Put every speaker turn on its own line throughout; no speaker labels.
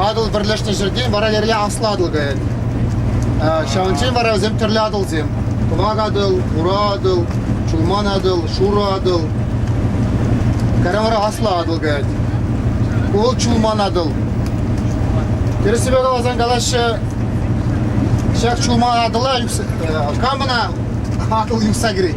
Атӑл пӗрлешнӗ ҫӗртен вара Лере Аслӑ Атӑл каять. Ҫавӑнчен вара вӗсем тӗрлӗ Атӑлсем. Кӑвак Атӑл, Ура Атӑл, Шулман Атӑл, Шурӑ Атӑл. Кара вара Аслӑ Атӑл каять. Вӑл Чулман Атӑл. Тӗрӗссипе каласан калаҫҫӗ, ҫак Чулман Атӑла, э, кам ӑна Атӑл юхса кӗрет?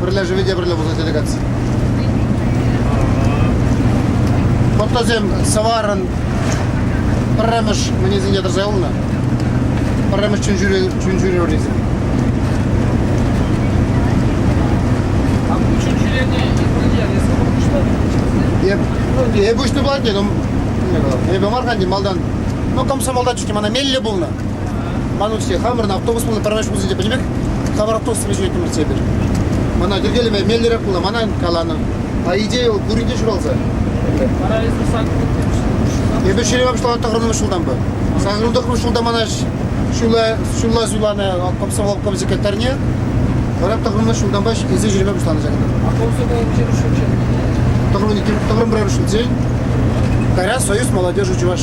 Пӗрле живе те пӗрле пулса делегаци. Фотосем сӑварӑн пӗрремӗш мӗнесенче тӑрса юлнӑ? Пӗрремӗш чунҫӳре вӗрисем. Эп уҫнӑ пулать, эпӗ мар канди малтан. Ну, комсомолда чуть мана мелле пулнӑ. Ман учитель хамӑрӑн автобус пулнӑ пӗрремеш ҫулсенче пӗчӗк пек, тавар автобусра ҫӳреттӗмӗр эпир. Мана йӗркелеме меллӗрех пулнӑ, мана каланӑ. По идее, ол пуринте ҫуралса.
Паралич Эпир ҫӳреме пуҫланӑ
тӑхӑрмӗш ҫултанпа. Сакӑрмӗш тӑхӑрмӗш ҫулта мана ҫула ҫулла суйланӑ комсомол комсекретарьне. Вара тӑхӑрмӗш ҫултанпа эсир ҫӳреме пуҫланӑ ҫакӑнта. А комсомол
виҫерӗш ҫулччен? Тӑхӑрмӗн,
тӑхӑрмӗн пӗрремӗш ҫулччен. Кайра Союз молодежи Чуваш.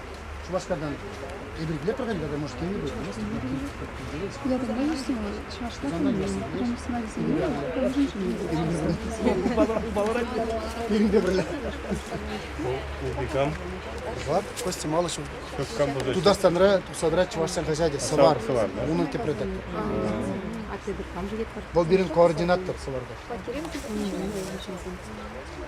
Шупашкартан эпир килетпӗр халь тата может килни пулмасть я давно не снимала
чӑвашла фильм прям сӑнавӗсене пирӗнпе пӗрле
ултикам
Влад Костя Малышев Тутарстанра
тухсадра
чӑвашсен хаҫачӗ сӑвар унӑн тӗп
редактор
а тебе кам же вӑл пирӗн координатор
сӑварта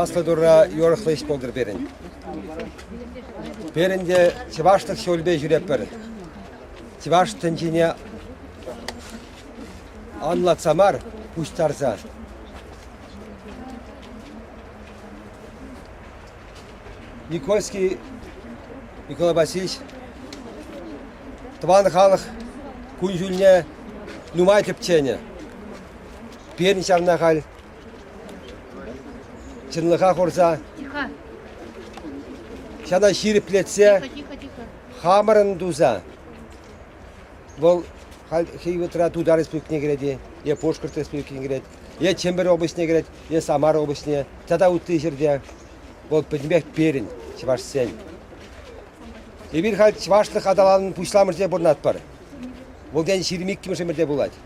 Аслӑ Турра юрӑхлӑ ӗҫ пултӑр пирӗн. Пирӗн те чӑвашлӑх ҫулӗпе ҫӳретпӗр. Чӑваш тӗнчине анлатса мар, пуҫтарса. Никольский Николай Васильевич тӑван халӑх кун-ҫулне нумай тӗпченӗ. Пирӗн ҫавна халь чӑнлӑха хурса ҫана ҫирӗплетсе хамӑрӑн туса вӑл халь хӑй вӑхӑтра Тутар Республикине кӗрет-и е Пушкӑрт Республикине кӗрет. Е Чӗмпӗр облаҫне кӗрет, е Самар облаҫне тата ытти ҫӗрте. Вӑл пӗтӗмпех пирӗн, чӑвашсен. Эпир халь чӑвашлӑх аталанӑвӑн пуҫламӑшӗнче пурӑнатпӑр. Вӑл тен ҫирӗм иккӗмӗш ӗмӗрте пулать.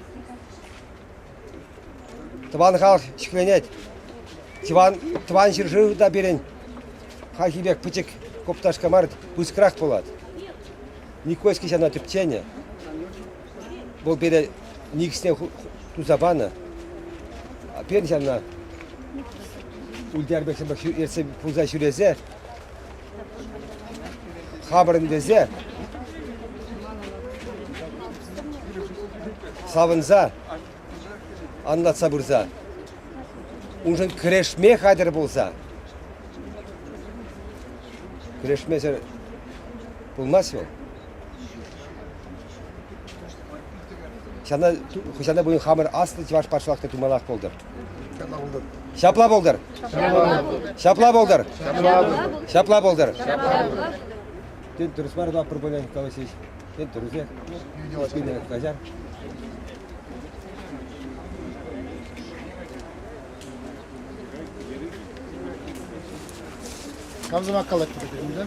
Тӑван халӑх ҫӗкленет. Тӑван, тӑван ҫӗршыв та пирӗн хальхи пек пӗчӗк копташка мар, пысӑкрах пулать. Никольский ҫана тӗпченӗ. Вӑл пире никӗсне туса панӑ. Пирӗн ҫавна Ульдяр Бексембек ертсе пулса ҫӳресе хапӑрӑн тесе савӑнса анлатса пырса уншӑн кӗрешме хатӗр пулса кӗрешмесӗр пулмасть вӑл. Ҫавна хӑҫана пулин хамӑр аслӑ чӑваш патшалӑхне туманах пултӑр. Ҫапла пултӑр. Ҫапла пултӑр. Ҫапла пултӑр. Тен, дурӑс мар таппӑр пулин калаҫҫӗҫ. Тен, дурусех. Киле каҫар. Комсомол коллективе
киремде.